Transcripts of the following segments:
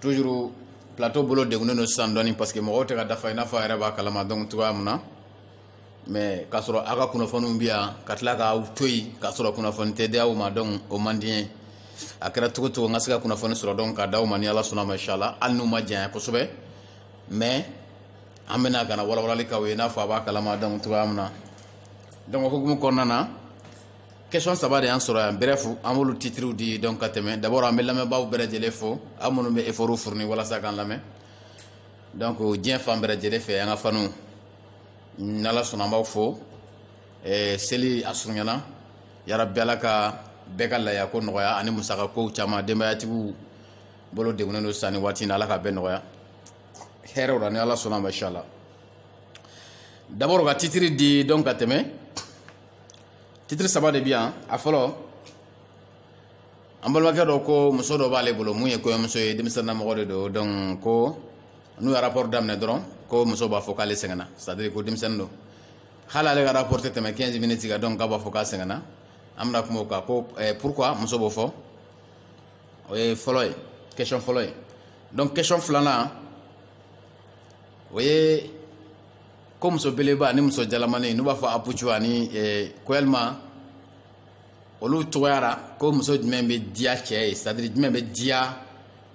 toujours plateau bolo degunnen don sisan dɔɔni parce que mɔgɔw tɛ ka dafa i n'a fɔ a yɛrɛ b'a kalama donc cogoya min na mais k'a sɔrɔ aw ka kunnafoniw bɛ yan ka tila k'aw to yen k'a sɔrɔ kunnafoni tɛ di aw ma donc o man di n ye a kɛra cogo o cogo n ka se ka kunnafoni sɔrɔ donc k'a d'aw ma ni ala sɔnna ma inshallah hali n'u ma janya kosɛbɛ mais an bɛna ka na walawalali k'aw ye i n'a fɔ a b'a kalama donc cogoya min na donc o hukumu kɔnɔna na question saba de y'an sɔrɔ yan bref an b'olu titiriw di donc ka tɛmɛ d'abord an bɛ lamɛnbaaw bɛɛ lajɛlen fo aw minnu bɛ effortw fourni walasa k'an lamɛn donc diɲɛ fan bɛɛ lajɛlen fɛ an ka fanw n'ala sɔnna an b'aw fo eh, seli a surunyana yarabi ala ka bɛɛ ka laya ko nɔgɔya ani musaka kow caman denbayatigiw bolo degunnen don sanni waati na ala ka bɛɛ nɔgɔya hɛrɛw la ni ala sɔnna ma inshallah d'abord ka titiri di donc ka tɛmɛ titiri saba de bɛ yan a fɔlɔ an balimakɛ dɔ ko muso dɔ b'ale bolo mun ye kɔɲɔmuso ye denmisɛnnin mɔgɔ de don donc ko n'u ye rapport daminɛ dɔrɔn ko muso b'a fɔ k'ale sɛgɛnna c'est à dire ko denmisɛnnin don hali ale ka rapport tɛ tɛmɛ 15 minutes kan donc k'a b'a fɔ k'a sɛgɛnna an bɛna kuma o kan ko eh, pourquoi muso b'o fɔ o ye fɔlɔ ye question fɔlɔ ye donc question filanan o ye ko muso beleba ani muso jalamani n'u b'a fɔ apucu ani eh, ko yalima olu cogoya ra ko muso jumɛn bɛ diya cɛ ye c'est à dire jumɛn bɛ diya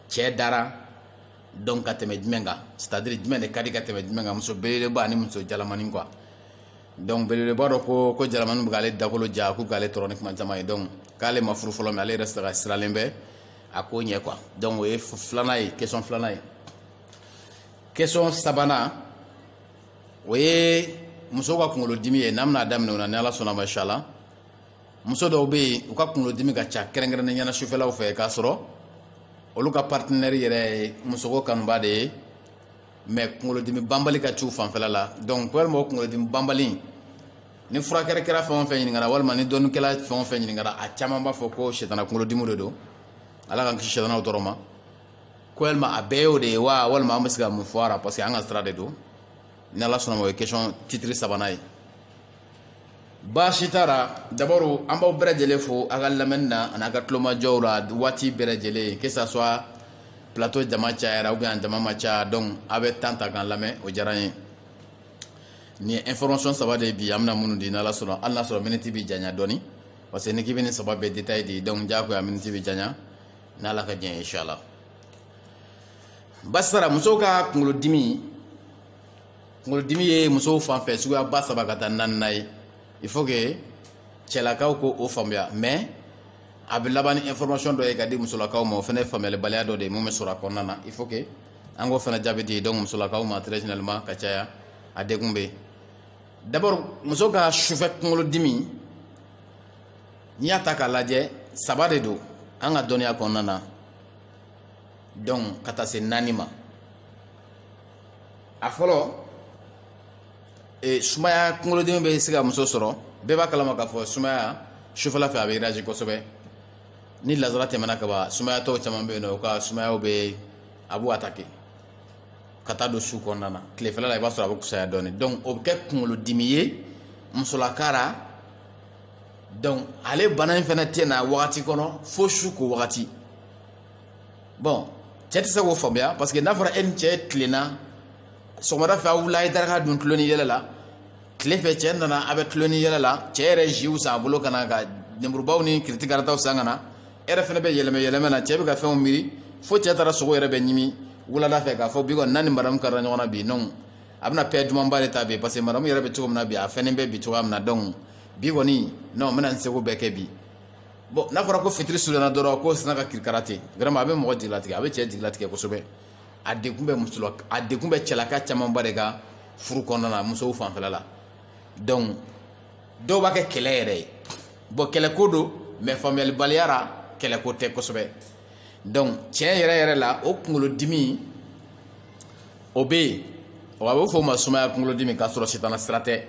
cɛ da ra donc ka tɛmɛ jumɛn kan c'est à dire jumɛn de ka di ka tɛmɛ jumɛn kan muso belebeleba ani muso jalamani quoi donc belebeleba dɔ ko ko jalamani bɛ k'ale dakolo ja k'u k'ale tɔɔrɔ ni kuma caman ye donc k'ale ma furu fɔlɔ mais ale yɛrɛ sera sirannen bɛ a ko ɲɛ quoi donc o ye filanan ye question filanan ye question sabanan o ye muso ka kunkolodimi ye n'an bɛna daminɛ o na ni ala sɔnna ma inshallah muso dɔw bɛ yen u ka kunkolodimi ka ca kɛrɛnkɛrɛnnenya na sufɛlaw fɛ k'a sɔrɔ olu ka partenaire yɛrɛ ye musoko kanubaa de ye mais kunkolodimi banbali ka c'u fanfɛla la donc walima o kunkolodimi banbali ni furakɛlikɛla fɛn o fɛn ɲininkara walima ni dɔnnikɛla fɛn o fɛn ɲininkara a caman b'a fɔ ko sitana kunkolodimi de don ala k'an kisi sitanaw tɔɔrɔ ma ko yalima a bɛɛ y'o de ye wa walima an bɛ se ka mun fɔ a ra parce que an ka sira de don ni ala sɔnna ma o ye question titiri sabanan ye baasi t'a la d'abord an b'aw bɛɛ lajɛlen fo a ka lamɛnni na an'a ka tulomajɔw la waati bɛɛ lajɛlen que ça soit plateau jama cayara ou bien a jama ma caya donc a bɛ temps ta k'an lamɛn o diyara n ye nin ye information saba de ye bi an bɛna minnu di n'ala sɔnna hali n'a sɔrɔ miniti bɛ janya dɔɔni parce que n'i k'i bɛ nin saba bɛɛ détail di donc diyagoya miniti bɛ janya n'ala ka diɲɛ inshallah basara musow ka kunkolodimi kunkolodimi ye musow fan fɛ suguyaba saba ka taa naaninan ye il faut que cɛlakaw ko o faamuya mais a bɛ laban ni information dɔ ye ka di musolakaw ma o fana ye faamuyalibaliya dɔ de ye mun bɛ sɔrɔ a kɔnɔna na il faut que an k'o fana jaabi di donc musolakaw ma très généralement ka caya a degun bɛ yen d'abord muso ka sufɛ kunkolodimi n'i y'a ta k'a lajɛ saba de don an ka dɔnniya kɔnɔna na donc ka taa se naani ma a fɔlɔ e, sumaya kunkolodimi bɛ se ka muso sɔrɔ bɛɛ b'a kalama k'a fɔ sumaya sufɛla fɛ a bɛ réagir kosɛbɛ ni lagazara tɛmɛna ka ban sumayatɔw caman bɛ yen nɔ u ka sumayaw bɛ a b'u attaquer ka taa don su kɔnɔna na tilefɛla la i b'a sɔrɔ a bɛ fusaya dɔɔnin donc o bɛ kɛ kunkolodimi ye musolaka la donc ale bana in fana tɛ na wagati kɔnɔ fo su ko wagati bon cɛ tɛ se k'o faamuya parce que n'a fɔra e ni cɛ tilenna sɔgɔmada fɛ aw wulila a ye daraka dun tulon ni yɛlɛ la tile fɛ cɛ nana a bɛ tulon ni yɛlɛ la cɛ yɛrɛ jus san a bolo ka na ka lemurubaw ni kiriti karataw san ka na e yɛrɛ fana bɛ yɛlɛmɛ yɛlɛmɛ na cɛ bɛ ka fɛnw miiri fo cɛ taara sogo yɛrɛ bɛ ɲimi wulada fɛ k'a fɔ bi kɔni n'a ni madamu karila ɲɔgɔn na bi non a bɛna pɛ dumanba de ta bi parce que madamu yɛrɛ bɛ cogo min na bi a fɛnnen bɛ bi cogoya min na donc bi kɔni non n bɛna n seko bɛɛ kɛ bi bon n'a fɔra ko fitiri surunyana dɔrɔn ko sinna ka kirikara ten vraiment a bɛ mɔgɔ jigilatigɛ a bɛ cɛ jigilatigɛ kosɛbɛ a degun bɛ muso la a degun bɛ cɛlaka camanba de kan furu kɔnɔna na musow fanfɛla la donc dɔw b'a kɛ kɛlɛ yɛrɛ ye bon kɛlɛko don mais faamuyalibaliya la kɛlɛko tɛ kosɛbɛ donc tiɲɛ yɛrɛ yɛrɛ la o kunkolodimi o bɛ yen o a bɛ fɔ o ma sumaya kunkolodimi k'a sɔrɔ sitana sira tɛ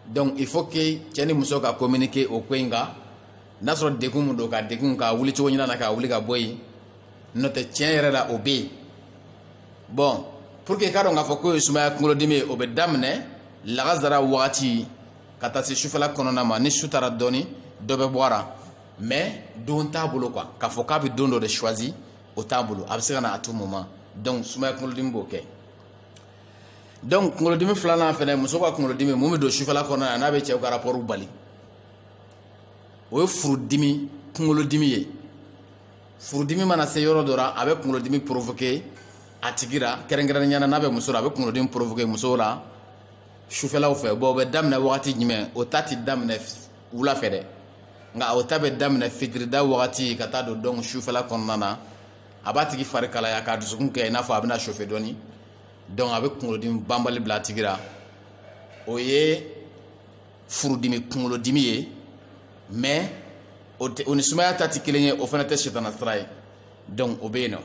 donc il faut que cɛ ni muso ka communiquer o ko in kan n'a sɔrɔ degun mun don ka degun ka wuli cogo ɲuman na ka wuli ka bɔ yen n'o tɛ tiɲɛ yɛrɛ la o bɛ yen bon pour que i k'a dɔn k'a fɔ k'o ye sumaya kunkolodimi ye o bɛ daminɛ lagazara wagati ka taa se sufɛla kɔnɔna ma ni su taara dɔɔni dɔ bɛ bɔ a la mais don t'a bolo quoi k'a fɔ k'a bɛ don dɔ de choisi o t'a bolo a bɛ se ka na à tout moment donc sumaya kunkolodimi b'o kɛ donc kunkolodimi filanan fɛnɛ muso ka kunkolodimi mun bɛ don sufɛla kɔnɔ yan n'a bɛ cɛw ka rapport bali o ye furudimi kunkolodimi ye furudimi mana se yɔrɔ dɔ la a bɛ kunkolodimi provoquer a tigi la kɛrɛnkɛrɛnnenya na n'a bɛ muso la a bɛ kunkolodimi provoquer musow la sufɛlaw fɛ bon o bɛ daminɛ wagati jumɛn o ta ti daminɛ wula fɛ dɛ nka o ta bɛ daminɛ fitirida wagati ka taa don don sufɛla kɔnɔna na a b'a tigi fari kalaya k'a dusukun kɛ i n'a fɔ a bɛna chauffer dɔɔni donc a bɛ kunkolodimi banbali bila a tigi la o ye furudimi kunkolodimi ye mais o ni sumaya ta tɛ kelen ye o fana tɛ sitana sira ye donc o bɛ yen nɔ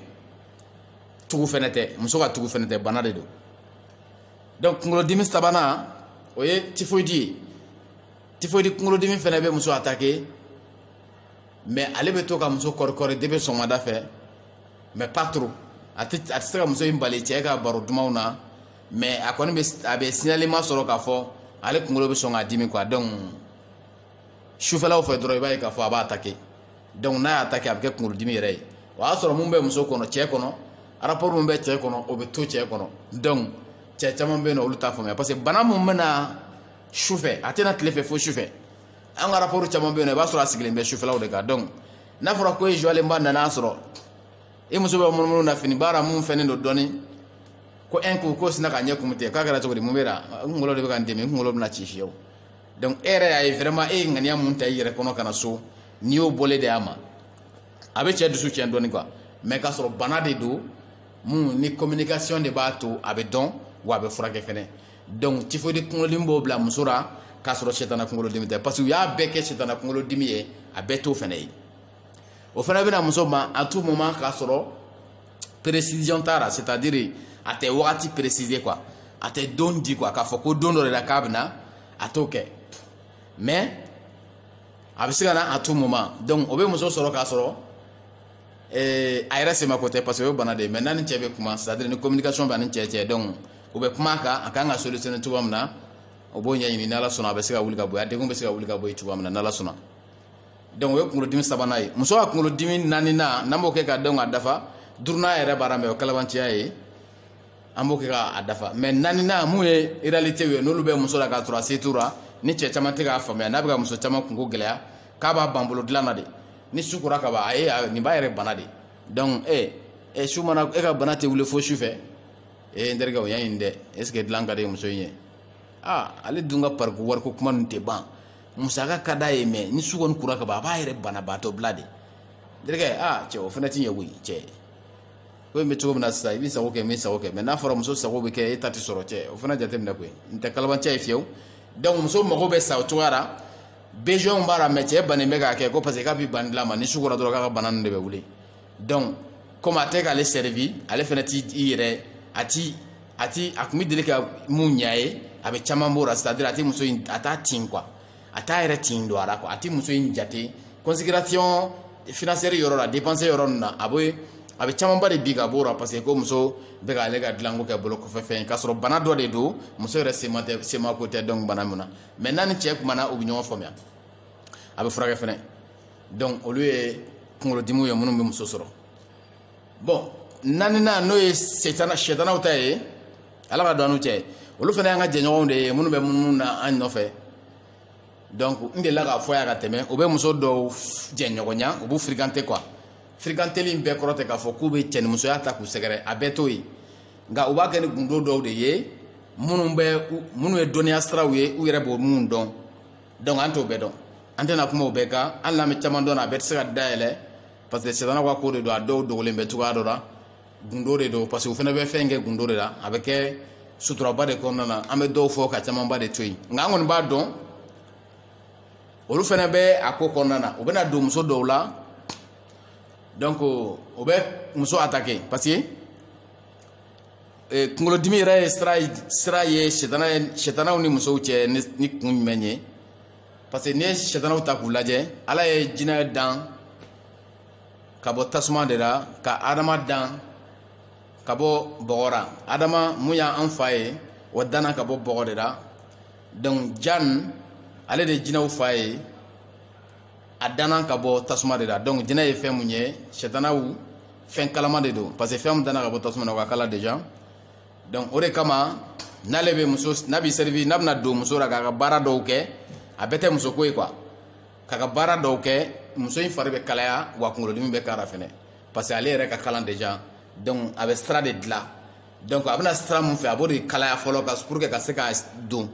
tugu fana tɛ muso ka tugu fana tɛ bana de don donc kunkolodimi sabanan o ye tifoyidi ye tifoyidi kunkolodimi fana bɛ muso atake mais ale bɛ to ka muso kɔrikɔri depuis sɔgɔmada fɛ mais pas trop a tɛ a tɛ se ka muso in bali cɛ ka baro dumanw na mais a kɔni bɛ a bɛ signalement sɔrɔ k'a fɔ ale kunkolo bɛ sɔn k'a dimi quoi donc sufɛlaw fɛ dɔrɔn i b'a ye k'a fɔ a b'a atake donc n'a y'a atake a bɛ kɛ kunkolodimi yɛrɛ ye o y'a sɔrɔ mun bɛ muso kɔnɔ cɛ kɔnɔ rapport mun bɛ cɛ kɔnɔ o bɛ to cɛ kɔnɔ donc cɛ caman bɛ yen nɔ olu t'a faamuya parce que bana mun bɛ na sufɛ a tɛ na tile fɛ fo sufɛ an ka rapport caman bɛ yen nɔ i b'a sɔrɔ a sigilen bɛ sufɛlaw de kan donc n'a fɔra ko e zuwalenba nana sɔrɔ i muso bɛ munumunu na fini b'a la mun fɛnnen don dɔɔni ko ɛn ko ko sina ka ɲɛ kun tɛ k'a kɛra cogo di mun b'i la n kunkolo de bɛ ka n dimi n kunkolo bɛna ci fiyewu donc e yɛrɛ y'a ye vraiment e ye ŋaniya mun ta i yɛrɛ kɔnɔ ka na so n'i y'o bɔlen de y'a ma a bɛ cɛ dusu tiɲɛ dɔɔni quoi mais k'a sɔrɔ bana de don mun ni communication de b'a to a bɛ dɔn wa a bɛ furakɛ fɛnɛ donc tifodi kunkolodimi b'o bila muso la k'a sɔrɔ setana kunkolodimi tɛ parce que u y'a bɛɛ kɛ setana kunkolodimi ye a bɛɛ t'o fana ye o fana bɛ na muso ma à tout moment k'a sɔrɔ précision t'a la c'est à dire a tɛ wagati préciser quoi a tɛ don di quoi k'a fɔ ko don dɔ de la k'a bɛ na a t'o kɛ mais a bɛ se ka na à tout moment donc o bɛ muso sɔrɔ k'a sɔrɔ ee a yɛrɛ sema ko tɛ parce que o ye bana de ye mais n'a ni cɛ bɛ kuma c'est à dire ni communication b'a ni cɛ cɛ donc u bɛ kuma a kan a ka kan ka solutionner cogoya min na u b'o ɲɛɲini n'ala sɔnna a bɛ se ka wuli ka bɔ yen a degun bɛ se ka wuli ka bɔ yen cogoya min na n'ala sɔnna donc o ye kunkolodimi sabanan ye muso ka kunkolodimi naaninan n'an b'o kɛ ka dɔn k'a dafa duurunan yɛrɛ b'a la mais o ye kalabanciya ye an b'o kɛ k'a dafa mais naaninan mun ye réalité ye n'olu bɛ muso la k'a sɔrɔ a se t'u la ni cɛ caman tɛ k'a faamuya n'a bɛ ka muso caman kunko gɛlɛya k'a b'a ban bolo dilan na de ni su kora ka ban a ye nin b'a yɛrɛ bana de donc e e su mana e ka bana tɛ wuli fo su fɛ e n terikɛ o y'a ɲini dɛ est ce que dilan ka di muso in ye aa ale dun ka pariko wariko kuma ninnu tɛ ban musaka ka d'a ye mais ni su kɔni kora ka ban a b'a yɛrɛ banabaatɔ bila de n terikɛ aa cɛ o fana tɛ ɲɛ koyi cɛ ko in bɛ cogo min na sisan i b'i sago kɛ n bɛ n sago kɛ mais n'a fɔra muso sago bɛ kɛ e ta tɛ sɔrɔ cɛ o fana jateminɛ koyi n tɛ kalabanci ye fiyewu donc muso mago bɛ sa o cogoya la besoin b'a la mais cɛ bannen bɛ k'a kɛ ko parce que k'a bɛ ban dilan ma ni su kora dɔrɔn k'a ka bana ninnu de bɛ wuli donc komi a tɛ k'ale servi ale fana t'i i yɛrɛ a ti a ti a tun bɛ deli ka mun ɲa a ye a bɛ caman bɔ o la c'est à dire a tɛ muso in a t'a tin quoi a t'a yɛrɛ tin don a la quoi a tɛ muso in jate considération financière yɔrɔ la dépense yɔrɔ ninnu na a bɛ a bɛ camanba de bin ka b'o la parce que ko muso bɛ k'ale ka dilanko kɛ bolo kɔfɛ fɛn ye k'a sɔrɔ bana dɔ de don muso yɛrɛ sema tɛ semako tɛ donc bana min na mais n'a ni cɛ kumana u bɛ ɲɔgɔn faamuya a bɛ furakɛ fɛnɛ donc olu ye kunkolodimiw ye minnu bɛ muso sɔrɔ bon naaninan n'o ye setana sɛtanaw ta ye ala ka don an n'u cɛ olu fana y'an ka jɛɲɔgɔnw de ye minnu bɛ munumunu na an nɔfɛ donc n delila k'a fɔ yan ka tɛmɛ u bɛ muso dɔw jɛɲɔgɔnya u b'u fréquenter quoi firikanteli in bɛɛ kɔrɔ tɛ k'a fɔ k'u bɛ cɛnimusoya ta k'u sɛgɛrɛ a bɛɛ t'o ye nka u b'a kɛ ni gundo dɔw de ye minnu bɛ minnu ye dɔnniya siraw ye u yɛrɛ b'o minnu dɔn donc an t'o bɛɛ dɔn an tɛna kuma o bɛɛ kan hali n'an bɛ caman dɔn a bɛɛ tɛ se ka dayɛlɛ parce que setana ka ko de don a dɔw dogolen bɛ cogoya dɔ la gundo de don parce que u fana bɛ fɛn kɛ gundo de la a bɛ kɛ suturaba de kɔnɔna na an bɛ dɔw fɔ ka camanba de to yen nka an kɔni b'a dɔn olu fana bɛ a ko kɔnɔna na u bɛna don muso dɔw la donc o bɛ muso attaquer parce que eh, kunkolodimi yɛrɛ ye sira ye sitana ye sitanaw ni musow cɛ ni kun jumɛn ye parce que n'i ye sɛtanaw ta k'u lajɛ ala ye jinɛ dan ka bɔ tasuma de la ka adama dan ka bɔ bɔgɔ la adama mun y'an fa ye o danna ka bɔ bɔgɔ de la donc jan ale de ye jinɛw fa ye a danna ka bɔ tasuma de la donc jinɛ ye fɛn mun ye sɛtanaw fɛn kalaman de don parce que fɛn min danna ka bɔ tasuma na o ka kalan déjà donc o de kama n'ale bɛ muso n'a bɛ sɛrifi n'a bɛna don muso la k'a ka baara dɔw kɛ a bɛɛ tɛ muso ko ye quoi k'a ka baara dɔw kɛ muso in fari bɛ kalaya wa kunkolodimi bɛ k'a la fɛnɛ parce que ale yɛrɛ ka kalan déjà donc a bɛ sira de dilan donc a bɛna sira mun fɛ a b'o de kalaya fɔlɔ ka pour que ka se ka don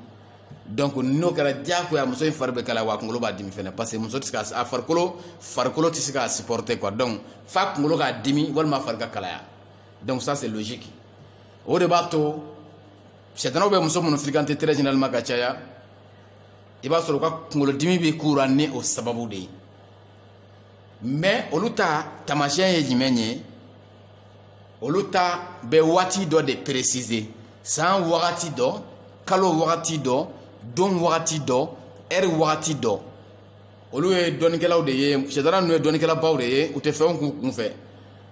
donc n'o kɛra diyagoya muso in fari bɛ kalaya wa kunkolo b'a dimi fɛnɛ parce que muso tɛ se ka a farikolo farikolo tɛ se k'a supporter quoi donc f'a kunkolo k'a dimi walima a fari ka kalaya donc ça c'est logique o de b'a to sɛtanaw bɛ muso minnu fréquenter très généralement ka caya i b'a sɔrɔ u ka kunkolodimi bɛ k'u la ni o sababu de ye mais olu ta taamasiyɛn ye jumɛn ye olu ta bɛ waati dɔ de préciser san wagati dɔ kalo wagati dɔ don wagati dɔ heure wagati dɔ olu ye dɔnnikɛlaw de ye sɛtana ninnu ye dɔnnikɛlabaw de ye u tɛ fɛnw k'u kun fɛ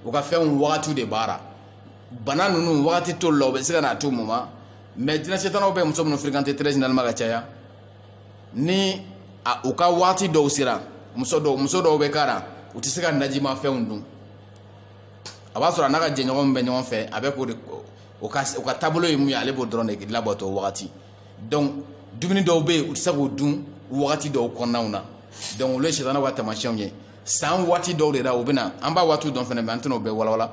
u ka fɛnw wagati de b'a la bana ninnu wagati t'olu la u bɛ se ka na à tout moment mais jinɛ sɛtanaw bɛ muso minnu fréquenter très généralement ka caya ni a, u ka wagati dɔw sera muso dɔw muso dɔw bɛ k'a la u tɛ se ka najima fɛnw dun a b'a sɔrɔ a n'a ka jɛɲɔgɔnw bɛ ɲɔgɔn fɛ a bɛ k'o de o ka o ka taabolo ye mun ye ale b'o dɔrɔn de labato o wagati donc dumuni dɔw bɛ yen u tɛ se k'o dun wagati dɔw kɔnɔnaw na donc olu ye sitana ka taamasiyɛnw ye san waati dɔw de la u bɛ na an b'a waatiw dɔn fana mais an tɛna o bɛɛ walawala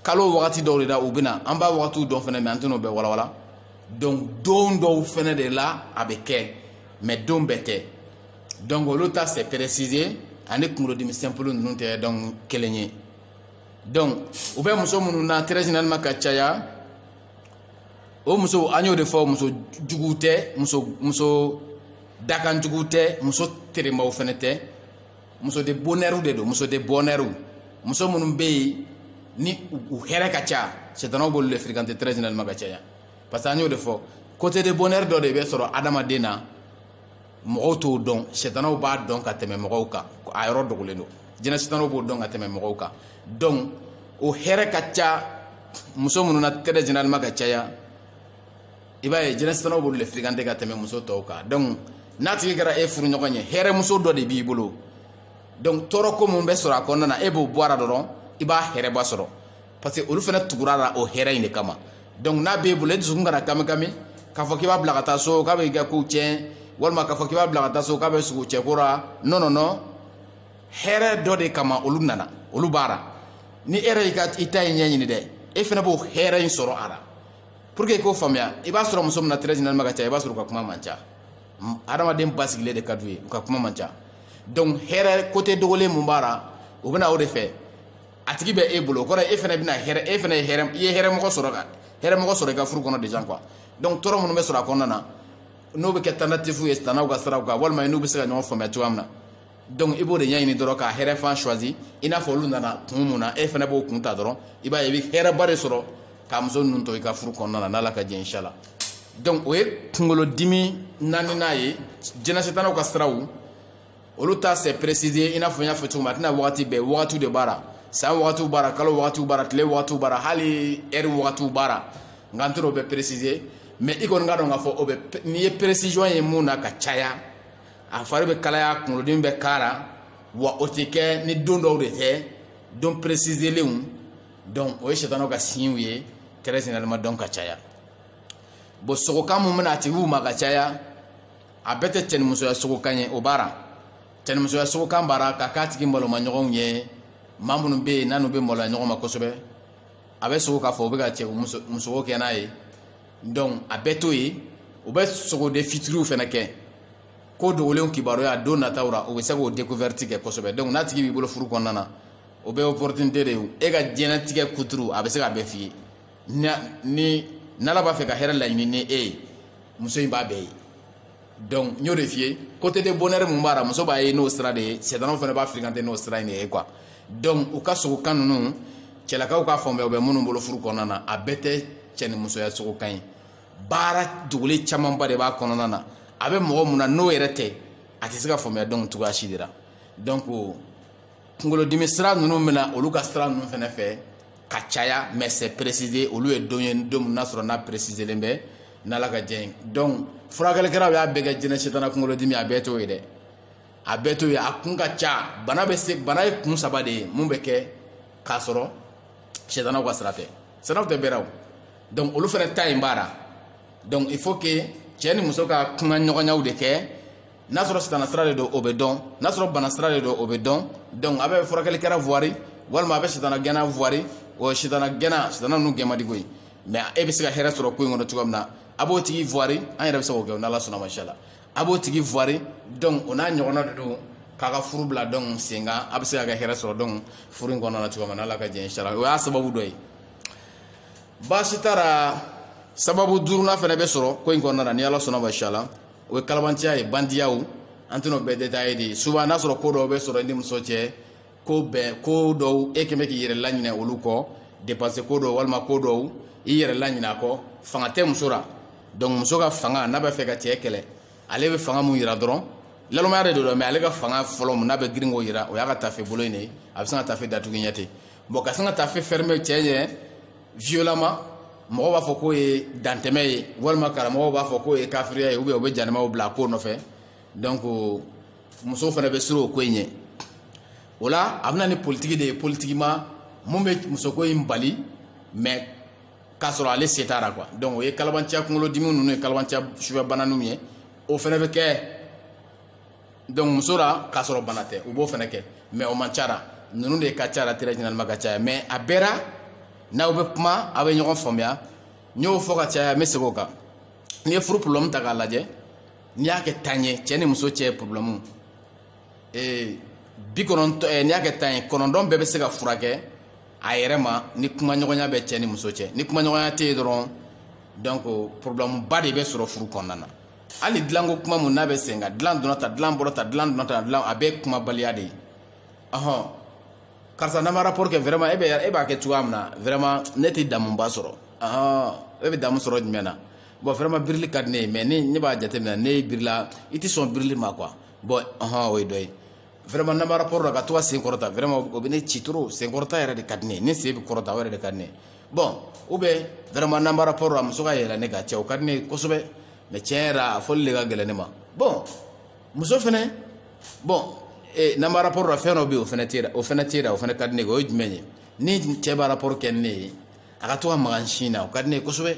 kalo wagati dɔw de la u bɛ na an b'a wagatiw dɔn fana mais an tɛna o bɛɛ walawala donc don dɔw fana de la a bɛ kɛ mais don bɛɛ tɛ donc olu ta c'est précisé ani kunkolodimi simple ninnu tɛ donc kelen ye donc u bɛ muso minnu na très généralement ka caya o muso an y'o de fɔ muso jugu tɛ muso muso dakanjugu tɛ muso teremaw fɛnɛ tɛ muso de bonheurw de don muso de bonheurw muso minnu bɛ yen ni u hɛrɛ ka ca sɛtanaw b'olu de fréquenter très généralement ka caya parce que an y'o de fɔ côté de bonheur dɔ de bɛ sɔrɔ adamaden na mɔgɔw t'o dɔn sɛtanaw b'a dɔn ka tɛmɛ mɔgɔw kan a yɔrɔ dogolen don jinɛ sɛtanaw b'o dɔn ka tɛmɛ mɔgɔw kan donc o hɛrɛ ka ca muso minnu na très généralement ka caya i b'a ye jinɛ sɛtanaw b'olu le fréquenter ka tɛmɛ muso tɔw kan donc n'a tigi kɛra e furuɲɔgɔn ye hɛrɛmuso dɔ de b'i bolo donc tɔɔrɔ ko mun bɛ sɔrɔ a kɔnɔna na e b'o bɔ a la dɔrɔn i b'a hɛrɛba sɔrɔ parce que olu fana tugur'a la o hɛrɛ in de kama donc n'a b'e bolo e dusukun kana kamikami k'a fɔ k'i b'a bila ka taa so k'a bɛ i ka kow tiɲɛ walima k'a fɔ k'i b'a bila ka taa so k'a bɛ sugo cɛko la non non non hɛrɛ dɔ de kama olu nana olu b'a la ni e yɛrɛ y'i ka i ta in ɲɛɲini dɛ e fana b'o hɛrɛ in sɔrɔ a la pour que i k'o faamuya i b'a sɔrɔ muso min na très généralement ka ca i b'a sɔrɔ u ka kuma man ca adamaden basigilen de ka d'u ye u ka kuma man ca donc hɛrɛ côté dogolen mun b'a la u bɛ na o de fɛ a tigi bɛ e bolo o kɔrɔ e fana bɛna hɛrɛ e fana ye hɛrɛ i ye hɛrɛmɔgɔ sɔrɔ ka hɛrɛmɔgɔ sɔrɔ i ka furu kɔnɔ déjà quoi donc tɔɔrɔ minnu bɛ sɔrɔ a kɔnɔna na n'o bɛ kɛ tentative ye sitanɛw ka siraw kan walima n'u bɛ se ka ɲɔgɔn faamuya cogoya min na donc i b'o de ɲɛɲini dɔrɔn ka hɛrɛ fan choisi i n'a fɔ olu nana kun mun na e fana b'o kun ta dɔrɔn i b'a ye i bɛ hɛrɛba de sɔrɔ ka muso ninnu to i ka furu kɔnɔna na n'ala ka jɛn inshala donc o ye kunkolodimi naaninan ye jinɛ sitanaw ka siraw olu ta c'est précisé i n'a fɔ n y'a fɔ cogo min a tɛ na wagati bɛɛ wagatiw de b'a la san wagatiw b'a la kalo wagatiw b'a la tile wagatiw b'a la hali heure wagatiw b'a la nka n tɛ o bɛɛ préciser mais i kɔni ka dɔn k'a fɔ o bɛ n'i ye précision ye mun na ka caya a fari bɛ kalaya kunkolodimi bɛ k'a la wa o tɛ kɛ ni don dɔw de tɛ don préciselenw donc o ye sɛtanaw ka signew ye très généralement donc ka caya bon sogokan mun bɛ na a tigiw ma ka caya a bɛɛ tɛ cɛnimusoya sogokan ye o b'a la cɛnimusoya sogokan b'a la ka k'a tigi malomaɲɔgɔnw ye maa minnu bɛ yen n'u bɛ maloya ɲɔgɔn ma kosɛbɛ a bɛ sogo k'a fɔ u bɛ ka cɛmusoko kɛ n'a ye a bɛɛ to yen u bɛ sogo de futurw fana kɛ ko dogolenw kibaruya don nataw la u bɛ se k'o découverte kɛ kosɛbɛ donc n'a tigi b'i bolo furu kɔnɔna na o bɛ opportunité de ye e ka diɲɛnatigɛ kuturu a bɛ se k'a bɛɛ f'i ye ni n'ala b'a fɛ ka hɛrɛ laɲini ni e ye muso in b'a bɛɛ ye donc n y'o de f'i ye côté de bonheur mun b'a la muso b'a ye n'o sira de ye setanaw fana b'a fréquenter n'o sira in de ye quoi donc u ka sogokan ninnu cɛlakaw k'a faamuya u bɛ minnu bolo furu kɔnɔna na a bɛɛ tɛ cɛ ni musoya sogokan ye baara dogolen camanba de b'a kɔnɔna na a bɛ mɔgɔ mun na n'o yɛrɛ tɛ a tɛ se k'a faamuya donc cogoya si de la donc kunkolodimi sira ninnu bɛna olu ka sira ninnu fana fɛ ka caya mais c'est précisé olu ye don ye don min n'a sɔrɔ n'a préciselen bɛ n'ala ka jɛ ye donc furakɛlikɛlaw y'a bɛɛ kɛ jinɛ setana kunkolodimi a bɛɛ t'o ye dɛ a bɛɛ t'o ye a kun ka ca bana bɛ se bana ye kun saba de ye mun bɛ kɛ k'a sɔrɔ setanaw ka sira tɛ setanaw t'a bɛɛ ra donc olu fana ta in b'a la donc il faut que cɛ ni muso ka kumaɲɔgɔnyaw de kɛ n'a sɔrɔ sitana sira de don o bɛ dɔn n'a sɔrɔ bana sira de don o bɛ dɔn donc a bɛ furakɛlikɛra voir walima a bɛ sitana gɛnna voir o sitana gɛnna sitana ninnu gɛn man di koyi mais e bɛ se ka hɛrɛ sɔrɔ ko in kɔnɔ cogoya min na a b'o tigi voir an yɛrɛ bɛ se k'o kɛ o n'ala sɔnna mashala a b'o tigi voir donc o n'a ɲɔgɔnna de don k'a ka furu bila donc sen kan a bɛ se ka kɛ hɛrɛ sɔrɔ donc furu in kɔnɔna na cogoya min na ala ka jɛ inshala o y'a sababu dɔ ye baasi t'a la sababu duurunan fana bɛ sɔrɔ ko in kɔnɔna na ni ala sɔnna mashala o ye kalabanciya ye bandiyaw an tɛn'o bɛɛ détailler dɛ souvent n'a sɔrɔ ko dɔw bɛ sɔrɔ i ni muso cɛ ko bɛn ko dɔw e kɛn bɛ k'i yɛrɛ laɲinɛ olu kɔ dépense ko dɔw walima ko dɔw i yɛrɛ laɲinɛ a kɔ fanga tɛ muso la donc muso ka fanga n'a b'a fɛ ka cɛ kɛlɛ ale bɛ fanga mun yira dɔrɔn nalomaya de don dɛ mais ale ka fanga fɔlɔ mun n'a bɛ girin k'o yira o y'a ka tafe bolo in de ye a bɛ sin ka tafe datugu ɲɛ ten bon ka sin ka tafe fɛrɛmɛ cɛ ɲɛ violemment mɔgɔw b'a fɔ k'o ye dantɛmɛ ye walima karamɔgɔw b'a fɔ k'o ye kafiriya ye ou bien u bɛ jahanamaw bila a ko nɔfɛ donc musow fana bɛ siran o ko in ɲɛ o la a bɛ na ni politiki de ye politikima mun bɛ musoko in bali mais k'a sɔrɔ ale sen t'a la quoi donc o ye kalabanciya kunkolodimi ninnu ye kalabanciya sufɛ bananinw ye o fana bɛ kɛ donc muso la k'a sɔrɔ bana tɛ u b'o fana kɛ mais o man ca a ra ninnu de ka ca a ra très généralement ka caya mais a bɛɛ ra n'aw bɛ kuma aw bɛ ɲɔgɔn faamuya n y'o fɔ ka caya n bɛ segin o kan n'i ye furu problème ta k'a lajɛ n'i y'a kɛ tan ye cɛ ni muso cɛ problème ee bi kɔnɔntɔn eh, n'i y'a kɛ tan ye kɔnɔntɔn bɛɛ bɛ se ka furakɛ a yɛrɛ ma ni kumaɲɔgɔnya bɛ cɛ ni muso cɛ ni kumaɲɔgɔnya tɛ yen dɔrɔn donc problème ba de bɛ sɔrɔ furu kɔnɔna na hali dilanko kuma mun n'a bɛ sen kan dilan dɔrɔn ta dilan bɔrɔ ta dilan dɔrɔn ta dilan a bɛɛ kumabaliya de ye ɔhɔn karisa n'an ma rapport kɛ vraiment e bɛ e b'a kɛ cogoya min na vraiment ne tɛ damuba sɔrɔ ɔhɔn e bɛ damu sɔrɔ jumɛn na bon vraiment birili ka di ne ye mais ne ne b'a jateminɛ ne ye birila i tɛ sɔn birili ma quoi bon ɔhɔn o ye dɔ ye vraiment n'an bɛ rapport la ka to ka sen kɔrɔta vraiment o bɛ ne ci trop sen kɔrɔta yɛrɛ de ka di ne ye ne sen bɛ kɔrɔta o yɛrɛ de ka di ne ye bon ou bien vraiment n'an bɛ rapport la muso ka yɛlɛ ne kan cɛ o ka di ne ye kosɛbɛ mais tiɲɛ yɛrɛ la a fɔli de ka gɛlɛn ne ma bon muso fɛnɛ bon ee n'an bɛ rapport la fɛn dɔ bɛ yen o fɛnɛ tɛ o fɛnɛ tɛ o fɛnɛ ka di ne ye o ye jumɛn ye ni cɛ bɛ rapport kɛ ni ne ye a ka to ka maga n sin na o ka di ne ye kosɛbɛ.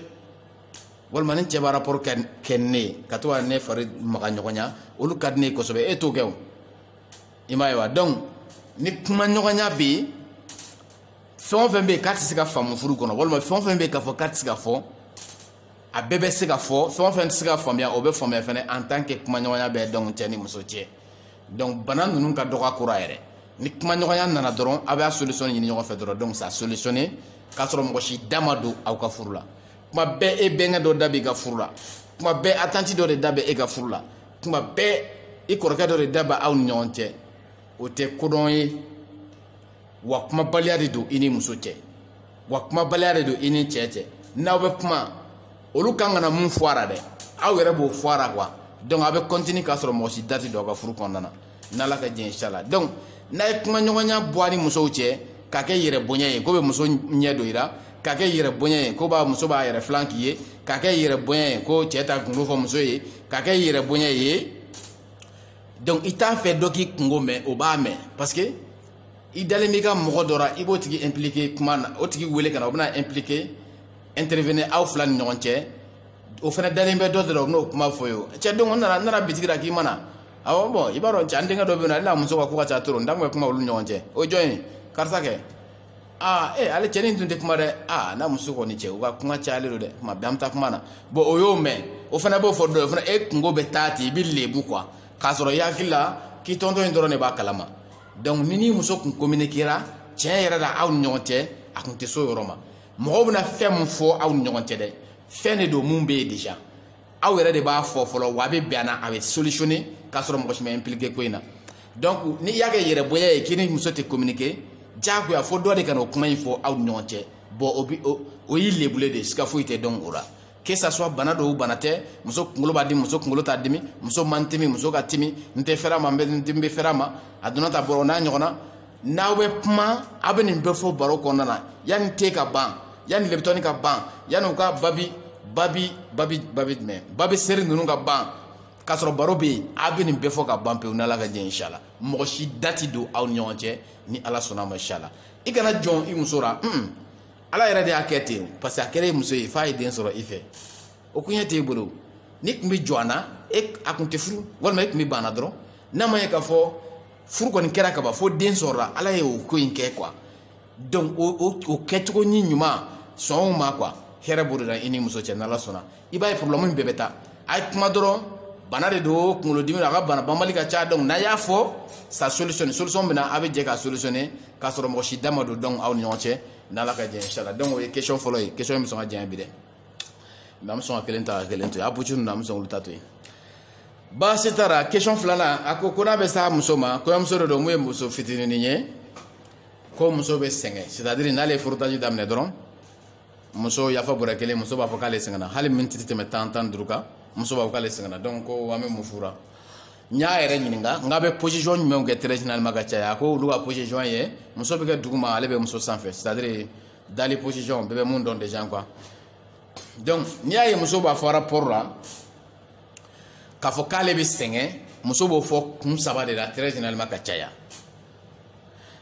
walima ni cɛ bɛ rapport kɛ ni ne ye ka to ka ne fari maga ɲɔgɔnya olu ka di ne ye kosɛbɛ e t'o kɛ o i m'a ye wa donc ni kuma ɲɔgɔnya bɛ yen fɛn o fɛn bɛ yen k'a tɛ se ka faamu furu kɔnɔ walima fɛn o fɛn bɛ yen k'a fɔ k'a tɛ se ka fɔ a bɛɛ bɛ se ka fɔ fɛn o fɛn tɛ se ka faamuya o bɛ faamuya fɛnɛ en tant que kuma ɲɔgɔnya bɛ donc cɛ ni muso cɛ donc bana ninnu ka dɔgɔ a kɔrɔ a yɛrɛ ni kuma ɲɔgɔnya nana dɔrɔn aw bɛ a solution ɲini ɲɔgɔn fɛ dɔrɔn donc ça solutionner k'a sɔrɔ mɔgɔ si da ma don aw ka furu la. kuma bɛɛ e bɛnkɛ dɔ da b'i ka furu la kuma bɛɛ a tanti dɔ de da bɛ e ka furu la kuma bɛɛ i kɔrɔkɛ dɔ de da bɛ aw ni ɲɔgɔn cɛ o tɛ kodɔn ye wa kumabaliya de don i ni muso cɛ wa kumabaliya de don i ni cɛ cɛ n'aw bɛ kuma olu kan ka na min fɔ a la dɛ aw yɛrɛ b'o fɔ a la quoi donc aw bɛ continuer k'a sɔrɔ mɔgɔ si da tɛ don aw ka furu kɔnɔna na n'ala ka diɲɛ inshala donc n'a ye kumaɲɔgɔnya bɔ a ni musow cɛ k'a kɛ yɛrɛ bonya ye ko bɛ muso ɲɛ don i la k'a kɛ yɛrɛ bonya ye ko b'a muso b'a yɛrɛ filan k'i ye k'a kɛ yɛrɛ bonya ye ko cɛ t'a kunko fɔ muso ye k'a kɛ yɛrɛ bonya ye donc i t'a fɛ dɔ k'i kunko mɛn o b'a mɛn parce que i dalen b'i ka mɔgɔ dɔ la i b'o tigi impliqué kuma na o tigi wele ka na o bɛna impliqué intervenir aw fila ni ɲɔgɔn cɛ o fana dalen bɛ dɔ de la o bɛn'o kuma fɔ ye o cɛ don o nana n nana bitigi la k'i ma na awɔ bon i b'a dɔn cɛ an denkɛ dɔ bɛ yen non ale n'a muso ka ko ka ca trop n da tun bɛ kuma olu ɲɔgɔn cɛ o jɔn ye karisa kɛ aa ee ale cɛnin tun tɛ kuma dɛ aa n'a muso kɔni cɛ u ka kuma cayalen don dɛ kuma bɛɛ an bɛ taa kuma na bon o y'o mɛn o fana b'o fɔ dɔ ye o fana e kunko bɛ taa ten i bɛ lebu quoi k'a sɔrɔ i hakili la k'i tonton in dɔrɔn de b'a kalama donc ni n'i muso tun communiquera tiɲɛ yɛrɛ la aw ni ɲɔgɔn cɛ a tun tɛ s'o yɔrɔ ma mɔgɔw bɛna fɛn min fɔ aw ni ɲɔgɔn cɛ dɛ fɛn de don min bɛ yen déjà aw yɛrɛ de b'a fɔ fɔlɔ wa a bɛ bɛn a na a bɛ solutionner k'a sɔrɔ mɔgɔ si ma impliquer ko in na donc n'i y'a kɛ yɛrɛbonya ye k'i ni muso tɛ communiquer diyagoya fo dɔ de ka na o kuma in fɔ aw ni ɲɔgɔn cɛ bon o bi o o y'i lebulen de ye siga foyi tɛ don o la que ça soit bana don bana tɛ muso kunkolo b'a dimi muso kunkolo t'a dimi muso man timi muso ka timi n tɛ fɛrɛ a ma n bɛ n bɛ fɛrɛ a ma a donna ta bɔrɔ n'a ɲɔgɔnna n'aw bɛ kuma aw bɛ nin bɛɛ fɔ baro kɔnɔna na yanni te ka ban yanni lipton ka ban yanni u ka babi babi babi babi jumɛn babi seri ninnu ka ban k'a sɔrɔ baro bɛ yen aw bɛ nin bɛɛ fɔ ka ban pewu n'ala ka jɛ inshala mɔgɔ si da tɛ don aw ni ɲɔgɔn cɛ ni ala sɔnna ma inshala i kana jɔn i muso la un ala yɛrɛ de y'a kɛ ten parce que a kɛra i muso ye f'a ye den sɔrɔ i fɛ o kun ye t'e bolo n'i tun bɛ jɔn a na e kun t'a furu walima e tun bɛ ban a na dɔrɔn n'a ma ye k'a fɔ furu kɔni kɛra kaban fo den sɔrɔla ala ye o ko in kɛ quoi donc o o o kɛcogo ni ɲuman sɔnw ma quoi hɛrɛ b'o de la i ni muso cɛ n'ala sɔnna i b'a ye problème in bɛɛ bɛ taa a ye kuma dɔrɔn bana de don kunkolodimi don a ka bana banbali ka ca donc n'a y'a fɔ sa solution solution bɛ na a bɛ jɛ ka solutionner k'a sɔrɔ mɔgɔ si da ma don donc aw ni ɲɔgɔn cɛ n'ala ka jɛ inshallah donc o ye question fɔlɔ ye question in bɛ sɔn ka janya bi dɛ mais an bɛ sɔn ka kelen ta ka kelen to yen a pucu ninnu an bɛ sɔn k'olu ta to yen baasi t'a ra question filanan a ko ko n'a bɛ s'a muso ma kɔɲɔmuso dɔ don mun ye muso fitininin ye ko muso bɛ sɛgɛn c'est à dire n'ale ye frottage daminɛ dɔrɔn muso yafa bɔrɛ kelen muso b'a fɔ k'ale sɛgɛnna hali miniti tɛ tɛmɛ tan tan duuru kan muso b'a fɔ k'ale sɛgɛnna donc ko an bɛ mun fura n y'a yɛrɛ ɲininka n k'a bɛ position jumɛnw kɛ très généralement ka caya a ko olu ka position ye muso bɛ kɛ duguma ale bɛ muso sanfɛ c'est à dire dali position bɛɛ bɛ mun dɔn déjà quoi donc n'i y'a ye muso b'a fɔ rapport la k'a fɔ k'ale bɛ sɛgɛn muso b'o fɔ kun saba de la très généralement ka caya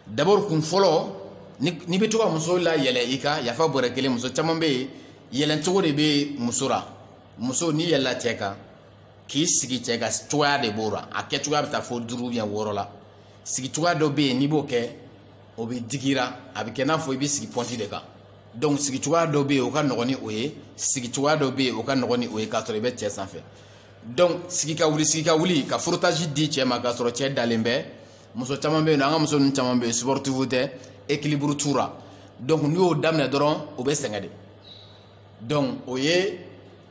d'abord kun fɔlɔ n'i bɛ to ka muso layɛlɛ i kan yafa bɔrɛ kelen muso caman bɛ yen yɛlɛn cogo de bɛ muso la muso n'i yɛlɛla cɛ kan k'i sigi cɛ kan cogoya de b'o la a kɛ cogoya bɛ taa fo duuru ou bien wɔɔrɔ la sigi cogoya dɔ bɛ yen n'i b'o kɛ o bɛ digi i ra a bɛ kɛ n'a fɔ i bɛ sigi pɔnti de kan donc sigi cogoya dɔ bɛ yen o ka nɔgɔn ni o ye sigi cogoya dɔ bɛ yen o ka nɔgɔn ni o ye k'a sɔrɔ i bɛ cɛ sanfɛ donc sigi ka wuli sigi ka wuli ka frottage di cɛ ma k'a sɔrɔ cɛ dalen bɛ muso caman bɛ yen nɔ an ka muso ninnu caman bɛ yen sportive tɛ équilibre t'u ra donc n'i y'o daminɛ dɔrɔn o bɛ sɛgɛn de donc o ye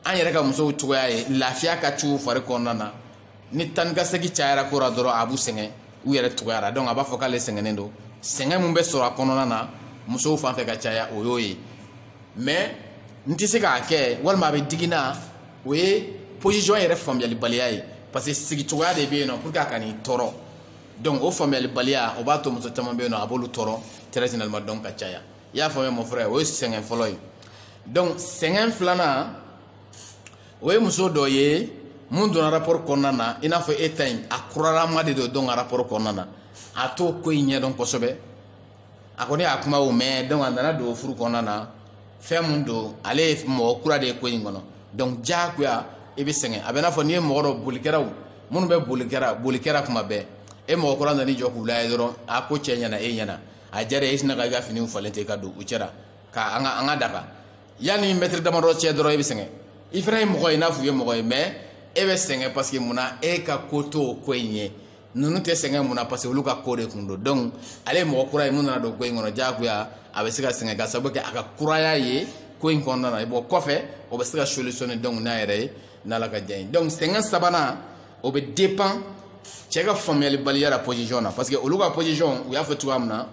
an yɛrɛ ka musow cogoya ye lafiya ka c'u fari kɔnɔna na ni taa ka segin cayara ko la dɔrɔn a b'u sɛgɛn u yɛrɛ tuguyara donc a b'a fɔ k'ale sɛgɛnnen don sɛgɛn min bɛ sɔrɔ a kɔnɔna na musow fan fɛ ka caya o y'o ye mais n tɛ se k'a kɛ walima a bɛ digi n na o ye position yɛrɛ faamuyalibaliya ye parce que sigicogoya de bɛ yen nɔ pour que a kan'i tɔɔrɔ donc o faamuyalibaliya o b'a to muso caman bɛ yen nɔ a b'olu tɔɔrɔ très généralement donc ka caya i y'a faamuya mon frère o ye sɛgɛn fɔlɔ ye donc sɛgɛn filanan o ye muso dɔ ye mun donna rapport kɔnɔna na i n'a fɔ e ta in a kuralama de don donc a rapport kɔnɔna na a t'o ko in ɲɛdɔn kosɛbɛ a kɔni y'a kumaw mɛn donc a nana don furu kɔnɔna na fɛn mun don ale ye mɔgɔ kura de ye ko in kɔnɔ donc diyagoya i bɛ sɛgɛn a bɛ n'a fɔ n'i ye mɔgɔ dɔ bolikɛlaw minnu bɛ bolikɛla bolikɛla kuma bɛɛ e mɔgɔ kura nana i jɔ k'u lajɛ dɔrɔn a ko cɛɲɛna e ɲɛ na a diyara i sinna ka i ka finiw falen ten ka don u cɛ ra ka an ka an ka taga yanni mɛtiri damadɔ cɛ dɔrɔn i bɛ sɛgɛn i fana ye mɔgɔ ye n'a fɔ i ye mɔgɔ ye mais e bɛ sɛgɛn parce que mun na e ka ko to o ko in ye ninnu tɛ sɛgɛn mun na parce que olu ka ko de kun don donc ale ye mɔgɔ kura ye mun nana don ko in kɔnɔ diyagoya a bɛ se ka sɛgɛn ka sababu kɛ a ka kuraya ye ko in kɔnɔna na bon kɔfɛ o bɛ se ka solution donc n'a yɛrɛ ye n'ala ka diya ye donc sɛgɛn sabanan o bɛ dépend cɛ ka faamuyalibaliya la position na parce que olu ka position u y'a fɔ cogoya min na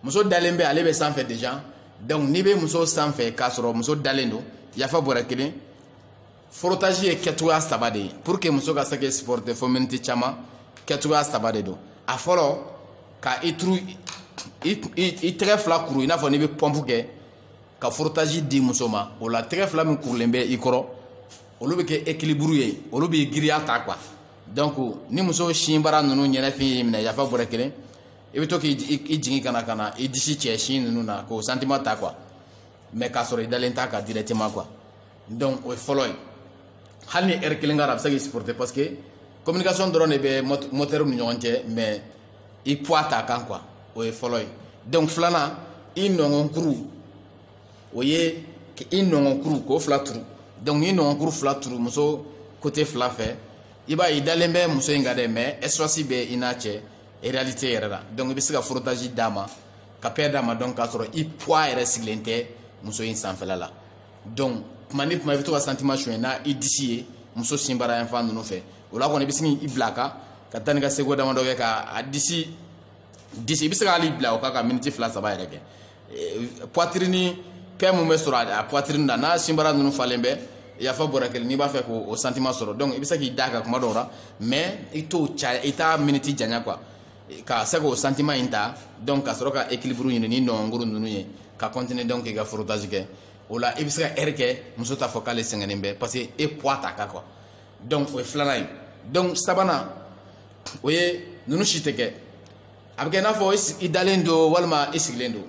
muso dalen bɛ ale bɛ sanfɛ déjà donc n'i bɛ muso sanfɛ k'a sɔrɔ muso dalen don yafa bɔrɛ kelen frottage ye kɛcogoya saba de ye pour que muso ka se ka supporter fo miniti caman kɛcogoya saba de don a fɔlɔ ka i turu i tɛgɛ fila kuru i n'a fɔ n'i bɛ pɔmpu kɛ ka frottage di muso ma o la tɛgɛ fila min kurulen bɛ i kɔrɔ olu bɛ kɛ équilibre ye olu b'i giriya ta quoi donc ni muso sinbara ninnu ɲɛnafin y'i minɛ yafa bɔrɛ kelen i bɛ to k'i jigin ka na ka na i disi cɛ sin ninnu na k'o sentiment ta quoi mais k'a sɔrɔ i dalen t'a kan directement quoi donc o ye fɔlɔ ye hali ni heure kelen kɛra a bɛ se k'i supporter parce que communication dɔrɔn de bɛ moteur ni ɲɔgɔn cɛ mais i poids t'a kan quoi o ye fɔlɔ ye donc filanan i nɔngɔnkuru o ye ka i nɔngɔnkuru k'o fila turu donc n'i nɔngɔnkuru fila turu muso côté fila fɛ i b'a ye i dalen bɛ muso in kan dɛ mais espace bɛ i n'a cɛ réalité yɛrɛ la donc i bɛ se ka frottage d'a ma ka paix d'a ma donc k'a sɔrɔ i poids yɛrɛ sigilen tɛ muso in sanfɛla la donc tuma ni tuma i bɛ to ka sentiment suɲɛ n'i disi ye muso sinbara yan fan ninnu fɛ o la kɔni i bɛ se k'i bila a kan ka taa ni ka seconde damadɔ kɛ ka a disi disi i bɛ se k'ale bila o kan ka miniti fila saba yɛrɛ kɛ poitrine paix min bɛ sɔrɔ a poitrine na n'a sinbara ninnu falen bɛ yafa bɔrɛ kelen n'i b'a fɛ k'o sentiment sɔrɔ donc i bɛ se k'i d'a kan kuma dɔw la mais i t'o caya i t'a miniti janya quoi ka se k'o sentiment in ta donc ka sɔrɔ ka équilibre ɲini ni nɔngɔnkuru ninnu ye ka continuer donc k'i ka frottage kɛ o la i bɛ se ka heure kɛ muso t'a fɔ k'ale sɛgɛnnen bɛ parce que e poids t'a kan quoi donc o ye filanan ye donc sabanan o ye ninnu si tɛ kɛ a bɛ kɛ i n'a fɔ i dalen don walima i sigilen don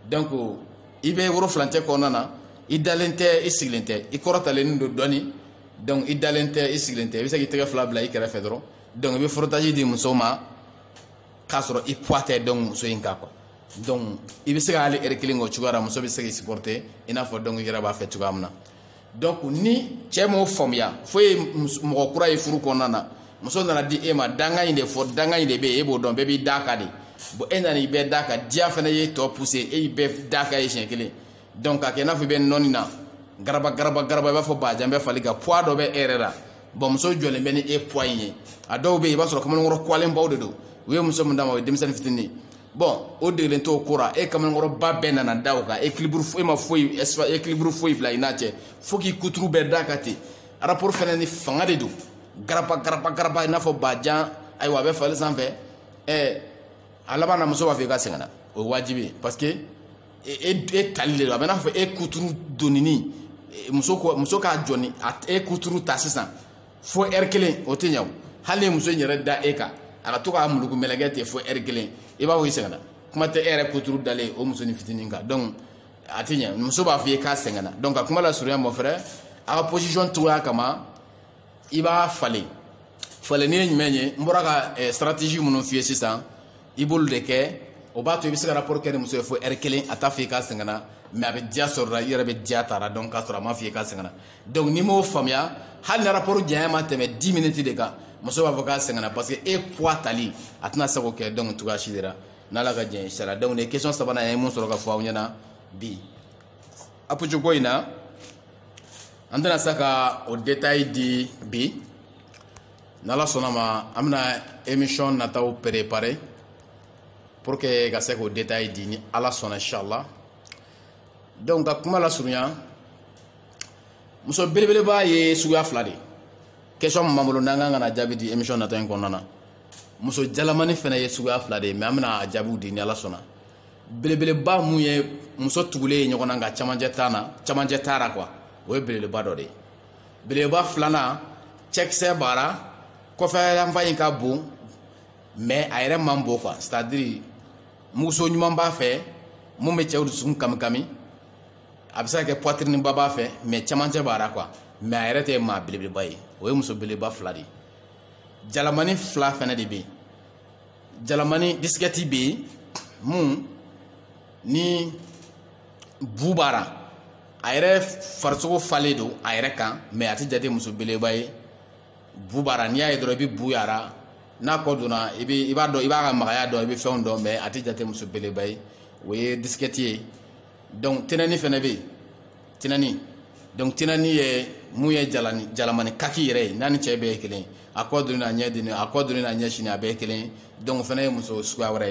donc i bɛ woro furancɛ kɔnɔna na i dalen tɛ i sigilen tɛ i kɔrɔtalen don dɔɔni donc i dalen tɛ i sigilen tɛ i bɛ se k'i tɛgɛ fila bila i kɛrɛfɛ dɔrɔn donc i bɛ frottage di muso ma k'a sɔrɔ i poids tɛ donc muso in kan quoi donc i bɛ se ka hali heure kelen k'o cogoya la muso bɛ se k'i supporter i n'a fɔ donc i yɛrɛ b'a fɛ cogoya min na donc ni cɛ m'o faamuya fo ye mɔgɔ kura ye furu kɔnɔna na muso nana di e ma danga in de fɔ danga in de bɛ yen e b'o dɔn bɛɛ b'i d'a kan de bon e nana i bɛɛ d'a kan diya fana ye tɔ pousser e y'i bɛɛ d'a kan yen siɲɛ kelen donc k'a kɛ i n'a fɔ i bɛ nɔni na garaba garaba garaba i b'a fɔ bajan bɛ fali kan poids dɔ bɛ e yɛrɛ la bon muso jɔlen bɛ ni e poids in ye a dɔw bɛ yen i b'a sɔrɔ kamalenkɔrɔ kuwalenbaw de don u ye muso min d'a ma o ye denmisɛnnin fitinin ye bon o degelen t'o ko ra e kamalenkɔrɔba bɛɛ nana da o kan équilibre e ma foyi équilibre foyi bila i n'a cɛ fo k'i kuturu bɛɛ d'a kan ten rapport fɛnɛ ni fanga de don garaba garaba garaba i n'a fɔ bajan ayiwa a bɛ fali sanfɛ ɛɛ a laban na muso b'a fɔ k'a sɛgɛnna o ye waajibi ye parce que e e tali de don a bɛ n'a fɔ e kuturu donini muso ko muso k'a jɔ ni e kuturu ta sisan fo ɛri kelen o tɛ ɲa o hali muso in yɛrɛ da e kan a ka to k'a muluku mɛlɛkɛ ten fo ɛri kelen i b'a fɔ i sɛgɛnna kuma tɛ e yɛrɛ kuturu dalen o musonin fitinin kan donc a tɛ ɲa muso b'a fɔ i ye k'a sɛgɛnna donc ka kuma lasurunya mɔ fɛrɛ a ka position cogoya kama i b'a falen falenni ye jumɛn ye n bɔra ka stratégie minnu f'i ye sisan i b'olu de kɛ o b'a to i bɛ se ka rapport kɛ ni muso ye fo ɛri kelen a t'a fɔ i k'a sɛgɛnna mais a bɛ diya sɔr'a la i yɛrɛ bɛ diya t'a ra dɔn k'a sɔrɔ a m'a fɔ i k'a sɛgɛnna donc n'i m'o faamuya hali ni rapport janya ma tɛmɛ 10 minutes de kan muso b'a fɔ k'a sɛgɛnna parce que e poids tali a tɛna se k'o kɛ donc cogoya si de la n'ala ka diɲɛ sara donc nin ye question sabanan ye mun sɔrɔ ka fɔ aw ɲɛna bi apuju ko in na an tɛna se ka o détail di bi n'ala sɔnna ma an bɛna émission nataw préparer pour que ka se k'o détail di ni ala sɔnna inchallah donc ka kuma lasurunya muso belebeleba ye suguya fila de question min b'an bolo n'an kan ka na jaabi di émission natɔ in kɔnɔna na muso jalamani fana ye suguya fila de ye mais an bɛna a jaabiw di ni ala sɔnna belebeleba mun ye muso tugulen ye ɲɔgɔn na nka camancɛ t'a na camancɛ t'a ra quoi o ye belebeleba dɔ de ye belebeleba filanan cɛkisɛ b'a la kɔfɛyanfan in ka bon mais a yɛrɛ man bon quoi c'est-à-dire muguso ɲuman b'a fɛ mun bɛ cɛw dusukun kamikami a bɛ se ka kɛ poitrineba b'a fɛ mais cɛmancɛ b'a la quoi mais a yɛrɛ tɛ maa belebeleba ye o ye muso belebeleba fila de ye jalamani fila fɛnɛ de bɛ yen jalamani disquette bɛ yen mun ni bu b'a la a yɛrɛ farisogo falen don a yɛrɛ kan mais a tɛ jate muso belebeleba ye bu b'a la n'i y'a ye dɔrɔn i bɛ bu y'a la n'a kɔ donna i bɛ i b'a dɔn i b'a ka magaya dɔn i bɛ fɛnw dɔn mais a tɛ jate muso belebeleba ye o ye disquette ye donc tinɛnin fana bɛ yen tinɛnin donc tinɛnin ye mun ye jalani jalamani kaki yɛrɛ ye n'a ni cɛ bɛɛ ye kelen a kɔ donni n'a ɲɛ donni a kɔ donni n'a ɲɛ sinni a bɛɛ ye kelen donc o fana ye muso suguya wɛrɛ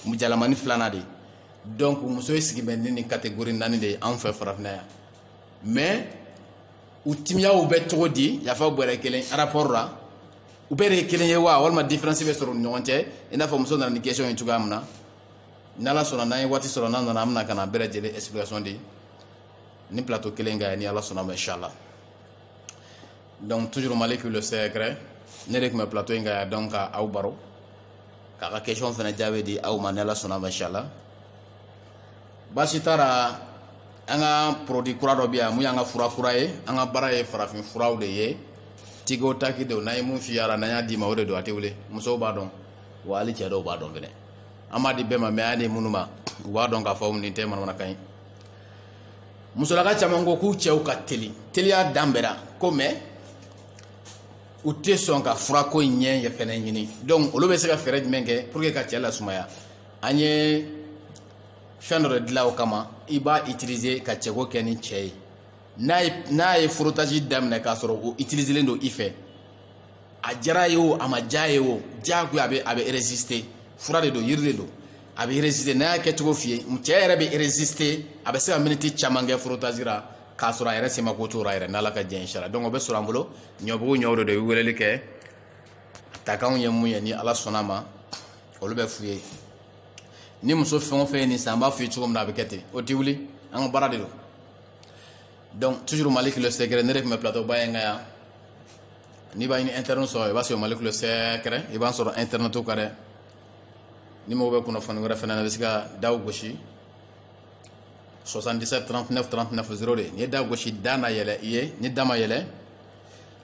ye jalamani filanan de donc muso ye sigi bɛ ni nin catégorie naani de ye anw fɛ farafinna yan mais u timiyaw bɛ cogo di yafa bɔrɛ kelen rapport la u bɛɛ de ye kelen ye wa walima différence bɛ sɔrɔ u ni ɲɔgɔn cɛ i n'a fɔ muso nana ni question ye cogoya min na n'ala sɔnna n'an ye waati sɔrɔ n'an nana an bɛna ka n'a bɛɛ lajɛlen explication di nin plateau kelen kan ni ala sɔnna ma inshallah donc toujours maliki le secret ne de tun bɛ plateau in kan yan donc ka aw baro k'aw ka question fana jaabi di aw ma ni ala sɔnna ma inshallah baasi t'a la an ka produit kura dɔ bɛ yan mun y'an ka fura kura ye an ka baara ye farafin furaw de ye tigo taki de n'an ye mun feere n'an y'a d'i ma o de don a tɛ wuli musow b'a dɔn wa hali cɛ dɔw b'a dɔn fɛnɛ an b'a di bɛɛ ma mais an de minnu ma u b'a dɔn k'a fɔ nin tɛ manamanakan ye musolaka caman ko k'u cɛw ka teli teliya dan bɛra ko mais u tɛ sɔn ka furako in yɛrɛ fɛnɛ ɲini donc olu bɛ se ka fɛɛrɛ jumɛn kɛ pour que ka cɛ lasumaya an ye fɛn dɔ de dilan o kama i b'a utiliser ka cɛko kɛ ni cɛ ye n'a ye n'a ye frottage daminɛ k'a sɔrɔ o utiliselen don i fɛ a diyara ye o a ma diya ye o diyagoya a bɛ a bɛ résister fura de don yiri de don a bɛ résister n'a y'a kɛcogo f'i ye cɛ yɛrɛ bɛ résister a bɛ se ka miniti caman kɛ frottage la k'a sɔrɔ a yɛrɛ se ma ko t'o la yɛrɛ n'ala ka jɛ inshallah donc o bɛ sɔrɔ an bolo ɲɔbugu ɲɔw de don i bɛ weleli kɛ takanw ye mun ye ni ala sɔnna ma olu bɛ f'u ye ni muso fɛn o fɛn ye nin san an b'a f'u ye cogo min na a bɛ kɛ ten o tɛ wuli an ka baara de don donc toujours maliki le secret ne de tun bɛ plateau ba in kan yan n'i b'a ɲini internet sɔrɔ i b'a sɔrɔ maliki le secret i b'a sɔrɔ internet kan dɛ n'i mago bɛ kunnafoni wɛrɛ fana na i bɛ se ka daw gosi 77 39 39 02 n'i ye da gosi da na yɛlɛ i ye ni da ma yɛlɛ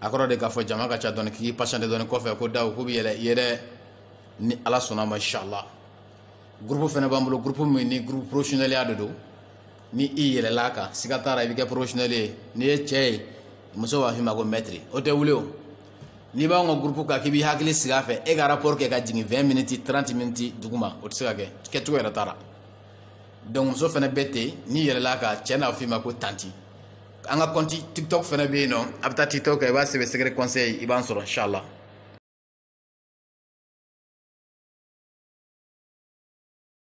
a kɔrɔ de k'a fɔ jama ka ca dɔɔni k'i patienter dɔɔni kɔfɛ ko daw k'u bɛ yɛlɛ i ye dɛ ni ala sɔnna ma inshallah groupe fana b'an bolo groupe min ni groupe professionnel ya de don ni i yɛlɛla kan siga t'a la i bɛ kɛ professionnel ye n'i ye cɛ ye muso b'a f'i ma ko maître o tɛ wuli o n'i b'anw ka groupe kan k'i b'i hakili sigi a fɛ e ka rapport kɛ ka jigin 20 minutes 30 minutes duguma o tɛ se ka kɛ kɛcogo yɛrɛ t'a la donc muso fana bɛ ten n'i yɛlɛla kan cɛ n'a f'i ma ko tanti an ka compte tiktok fana bɛ yen nɔ a bɛ taa tiktok kan i b'a sɛbɛn secret conseil i b'an sɔrɔ inshallah